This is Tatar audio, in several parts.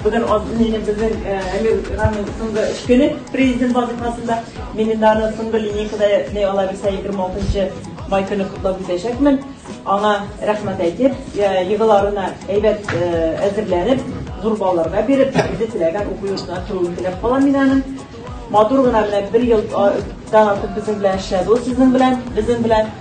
Бүген алтын минем безнең Әмир Рамин соңгы эш көне президент вазифасында. Мин инде аны соңгы линейкада ни ала бирсә 26 май көне котлап үтәчәкмен. Аңа рәхмәт әйтеп, йолаларына әйбәт әзерләнеп, зур балларга биреп, үзе теләгән уку йортына керүен теләп калам мин аның. Матур гына менә бер елдан артык безнең белән эшләде ул сезнең белән, безнең белән.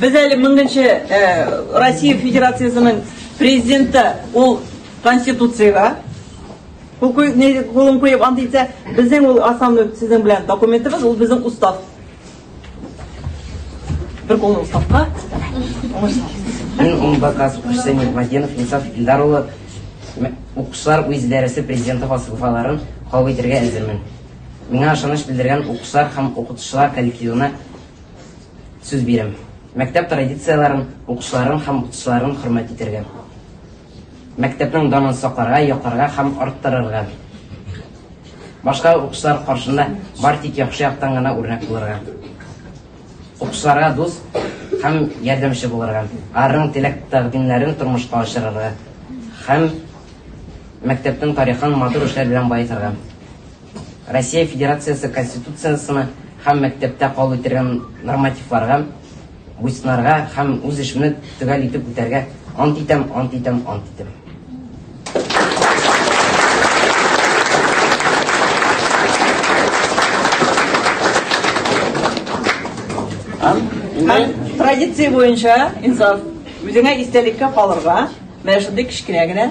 Без әле меңенче Россия Федерациясенең Президенты, ул Конституциягә кулын куеп ант итсә, безнең ул основной сезнең белән документыбыз, ул безнең Устав. Бер кулны Уставка. Мин ул бакас Хусейн Нигматдинов Инсаф Илдар улы укучылар үз дәресе президенты фалсафаларын кабул итәргә әзермен. Миңа ышаныч белдергән укучылар һәм укытучылар коллективына Сүз бирәм. Мәктәп традицияләрен, укучыларын һәм укытучыларын хөрмәт итәргә. Мәктәпнең данын сакларга, якларга һәм арттырырга. Башка укучылар каршында бар тик яхшы яктан гына үрнәк булырга. Укучыларга дус һәм ярдәмче булырга. Арның теләк-тәкъдимнәрен тормышка ашырырга һәм мәктәпнең тарихын матур эшләр белән баетырга. Россия Федерациясе Конституциясенә һәм мәктәптә кабул ителгән нормативларга буйсынарга һәм үз эшемне төгәл итеп үтәргә ант итәм, ант итәм, ант итәм. Традиция буенча, Инсаф, үзеңә истәлеккә калырга, менә шундый кечкенә генә